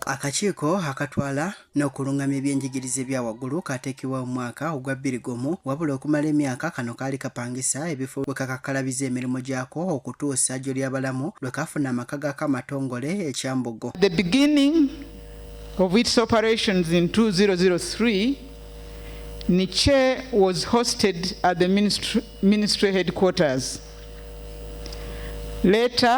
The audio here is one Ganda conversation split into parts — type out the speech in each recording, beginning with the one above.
Akakiiko akatwala n'okulungamya ebyenjigiriza ebya waggulu kaateekebwa mu mwaka ogwa bbiri gumu wabula okumala emyaka kano kaali kapangisa ebifo we kakakkalabiza emirimu gyako okutuusa jjo ly'abalamu lwe kaafuna amaka gaako amatongole ekyambogo The beginning of its operations in 2003 Niche was hosted at the ministry, ministry headquarters later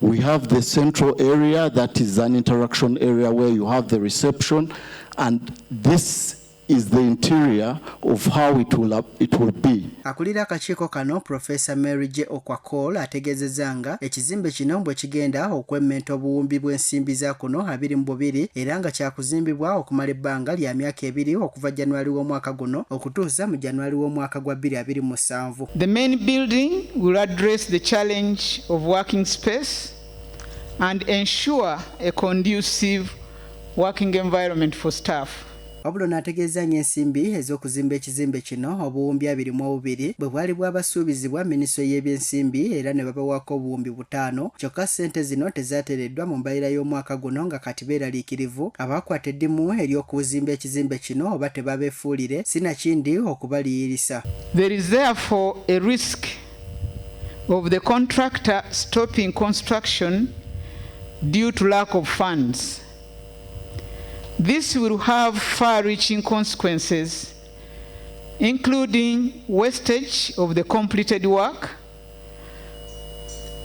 We have the central area that is an interaction area where you have the reception and this is the interior of how it will, it will be. Akulira akakiiko kano Professor Mary J Okwakol ategeezezza nga ekizimbe kino bwe kigenda okwemmenta obuwumbi bw'ensimbi za kuno abiri mu bubiri era nga kyakuzimbibwa okumala ebbanga lya myaka ebiri okuva January w'omwaka guno okutuusa mu January w'omwaka gwa 2020. nsanvu. The main building will address the challenge of working space and ensure a conducive working environment for staff. wabula onaategeeza nyo ensimbi ez'okuzimba ekizimbe kino obuwumbi abiri mu obubiri bwe bwali bwabasuubizibwa minisitule y'ebyensimbi era ne babawako obuwumbi ttaano kyokka ssente zino tezaatereddwa mu mbalira y'omwaka guno nga kati beeraliikirivu abaakwata eddimu ery'okuzimba ekizimbe kino oba tebabeefuulire sinakindi okubaliyirisa. There is therefore a risk of the contractor stopping construction due to lack of funds. This will have far-reaching consequences including wastage of the completed work,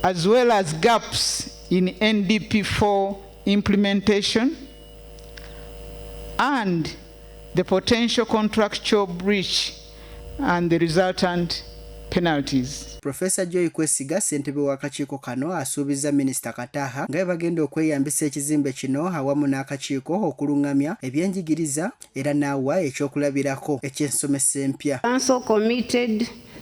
as well as gaps in NDP4 implementation and the potential contractual breach and the resultant penalties. Professor Joy Kwesiga ssentebe w'akakiiko kano asuubizza minisita Kataha nga bagenda okweyambisa ekizimbe kino awamu n'akakiiko okulung'amya ebyenjigiriza era n'awa ekyokulabirako eky'ensomesa empya. Council committed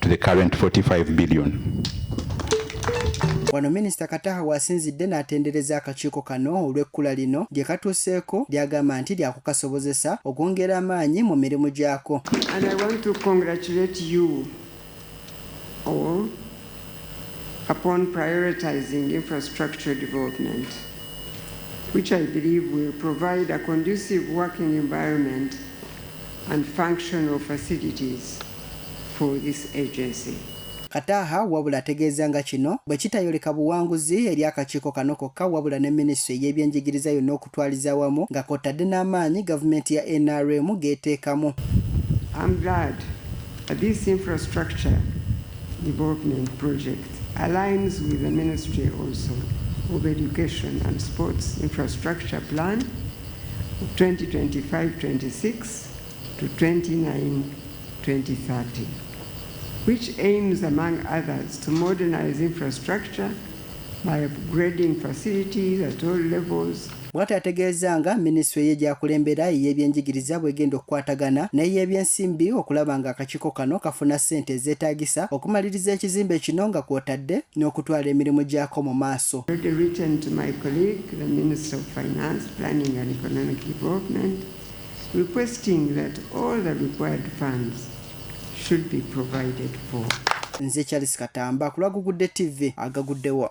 to the current 45 billion. Wano minisita Kataha wasinzidde n'atendereza akakiiko kano olw'ekkula lino gye katuuseeko ly'agamba nti lyakukasobozesa okwongera amaanyi mu mirimu gyako. And I want to congratulate you all upon prioritizing infrastructure development which I believe will provide a conducive working environment and functional facilities. for this agency. Kataha wabula ategeeza nga kino bwe kitayoleka buwanguzi eri akakiiko kano kokka wabula ne minisitule ey'ebyenjigiriza yonna okutwaliza awamu nga kw'ottadde n'amaanyi gavumenti ya nrm g'eteekamu I'm glad that this infrastructure development project aligns with the ministry also of education and sports infrastructure plan 2025-26 to 2030 which aims among others to modernize infrastructure by upgrading facilities at all levels bw'atyo ategeeza nga minisitule ye gyakulembera ey'ebyenjigiriza bw'egenda okukwatagana n'ey'ebyensimbi okulaba nga akakiiko kano kafuna ssente ezeetaagisa okumaliriza ekizimbe kino nga kw'otadde n'okutwala emirimu gyako mu maaso Minister of Finance, Planning and Economic Development, requesting that all the required funds should be provided for. Nze Charles Katamba kulwa Gugudde TV agaguddewo.